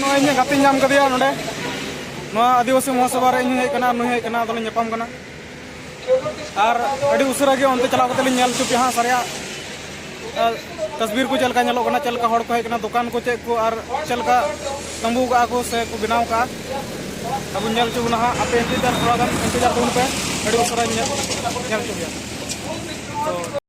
ᱱᱚᱜᱼᱚᱭ ᱤᱧᱟᱹᱜ ᱜᱟᱛᱮ ᱧᱟᱢ ᱠᱟᱫᱮᱭᱟ ᱱᱚᱰᱮ ᱱᱚᱣᱟ ᱟᱹᱫᱤᱵᱟᱹᱥᱤ ᱢᱚᱦᱟᱥᱚᱵᱷᱟ ᱨᱮ ᱤᱧ ᱦᱮᱡ ᱠᱟᱱᱟ ᱱᱩᱭ ᱦᱮᱡ ᱠᱟᱱᱟ ᱟᱫᱚᱞᱤᱧ ᱧᱟᱯᱟᱢ ᱠᱟᱱᱟ ᱟᱨ ᱟᱹᱰᱤ ᱩᱥᱟᱹᱨᱟ ᱜᱮ ᱚᱱᱛᱮ ᱪᱟᱞᱟᱣ ᱠᱟᱛᱮ ᱞᱤᱧ ᱧᱮᱞ ᱦᱚᱪᱚ ᱯᱮᱭᱟ ᱦᱟᱸᱜ ᱥᱟᱨᱭᱟ ᱛᱟᱥᱵᱤᱨ ᱠᱚ ᱪᱮᱫ ᱞᱮᱠᱟ ᱧᱮᱞᱚᱜ ᱠᱟᱱᱟ ᱪᱮᱫ ᱞᱮᱠᱟ ᱦᱚᱲ ᱠᱚ ᱦᱮᱡ ᱠᱟᱱᱟ ᱫᱚᱠᱟᱱ ᱠᱚ ᱪᱮᱫ ᱠᱚ ᱟᱨ ᱪᱮᱫ ᱞᱮᱠᱟ ᱛᱟᱹᱢᱵᱩ ᱠᱟᱜᱼᱟ ᱠᱚ ᱥᱮ ᱠᱚ ᱵᱮᱱᱟᱣ ᱠᱟᱜᱼᱟ ᱟᱵᱚ ᱧᱮᱞ ᱦᱚᱪᱚ ᱵᱚᱱᱟ ᱦᱟᱸᱜ ᱟᱯᱮ ᱤᱱᱛᱮᱡᱟᱨ ᱛᱷᱚᱲᱟ ᱜᱟᱱ ᱤᱱᱛᱮᱡᱟᱨ ᱛᱟᱵᱚᱱ ᱯᱮ ᱟᱹᱰᱤ ᱩᱥᱟᱹᱨᱟᱧ ᱧᱮᱞ ᱧᱮᱞ ᱦᱚᱪᱚ ᱯᱮᱭᱟ ᱛᱚ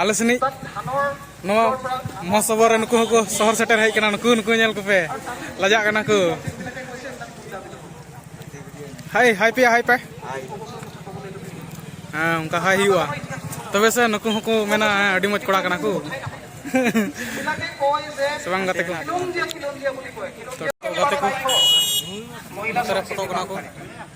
ᱟᱞᱮ ᱥᱮᱱᱤᱡ ᱱᱚᱣᱟ ᱢᱚᱦᱚᱥᱚᱵᱷᱟ ᱨᱮ ᱱᱩᱠᱩ ᱦᱚᱸᱠᱚ ᱥᱚᱦᱚᱨ ᱥᱮᱴᱮᱨ ᱦᱮᱡ ᱠᱟᱱᱟ ᱱᱩᱠᱩ ᱱᱩᱠᱩ ᱧᱮᱞ ᱠᱚᱯᱮ ᱞᱟᱡᱟᱜ ᱠᱟᱱᱟ ᱠᱚ ᱦᱟᱭ ᱦᱟᱭ ᱯᱮᱭᱟ ᱦᱟᱭ ᱯᱮ ᱦᱮᱸ ᱚᱱᱠᱟ ᱦᱟᱭ ᱦᱩᱭᱩᱜᱼᱟ ᱛᱚᱵᱮ ᱥᱮ ᱱᱩᱠᱩ ᱦᱚᱸᱠᱚ ᱢᱮᱱᱟ ᱟᱹᱰᱤ ᱢᱚᱡᱽ ᱠᱚᱲᱟ ᱠᱟᱱᱟ ᱠᱚ ᱥᱮ ᱵᱟᱝ ᱜᱟᱛᱮ ᱠᱚ ᱜᱟᱛᱮ ᱠᱚ ᱯᱷᱳᱴᱳ ᱠᱟᱱᱟ ᱠᱚ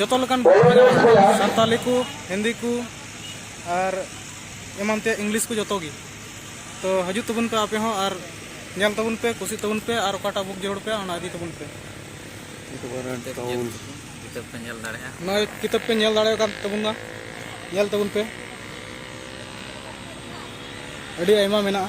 ᱡᱚᱛᱚ ᱞᱮᱠᱟᱱ ᱥᱟᱱᱛᱟᱞᱤ ᱠᱚ ᱦᱤᱱᱫᱤ ᱠᱚ ᱟᱨ ᱮᱢᱟᱱ ᱛᱮᱭᱟᱜ ᱤᱝᱞᱤᱥ ᱠᱚ ᱡᱚᱛᱚ ᱜᱮ ᱛᱚ ᱦᱤᱡᱩᱜ ᱛᱟᱵᱚᱱ ᱯᱮ ᱟᱯᱮ ᱦᱚᱸ ᱟᱨ ᱧᱮᱞ ᱛᱟᱵᱚᱱ ᱯᱮ ᱠᱩᱥᱤ ᱛᱟᱵᱚᱱ ᱯᱮ ᱟᱨ ᱚᱠᱟᱴᱟᱜ ᱵᱩᱠ ᱡᱟᱹᱨᱩᱲ ᱯᱮ ᱚᱱᱟ ᱤᱫᱤ ᱛᱟᱵᱚᱱ ᱯᱮ ᱠᱤᱛᱟᱹᱵ ᱯᱮ ᱧᱮᱞ ᱫᱟᱲᱮᱭᱟᱜᱼᱟ ᱱᱚᱜᱼᱚᱭ ᱠᱤᱛᱟᱹᱵ ᱯᱮ ᱧᱮᱞ ᱫᱟᱲᱮᱭᱟᱜ ᱠᱟᱱ ᱛᱟᱵᱚᱱᱟ ᱧᱮᱞ ᱛᱟᱵᱚᱱ ᱯᱮ ᱟᱹᱰᱤ ᱟᱭᱢᱟ ᱢᱮᱱᱟᱜᱼᱟ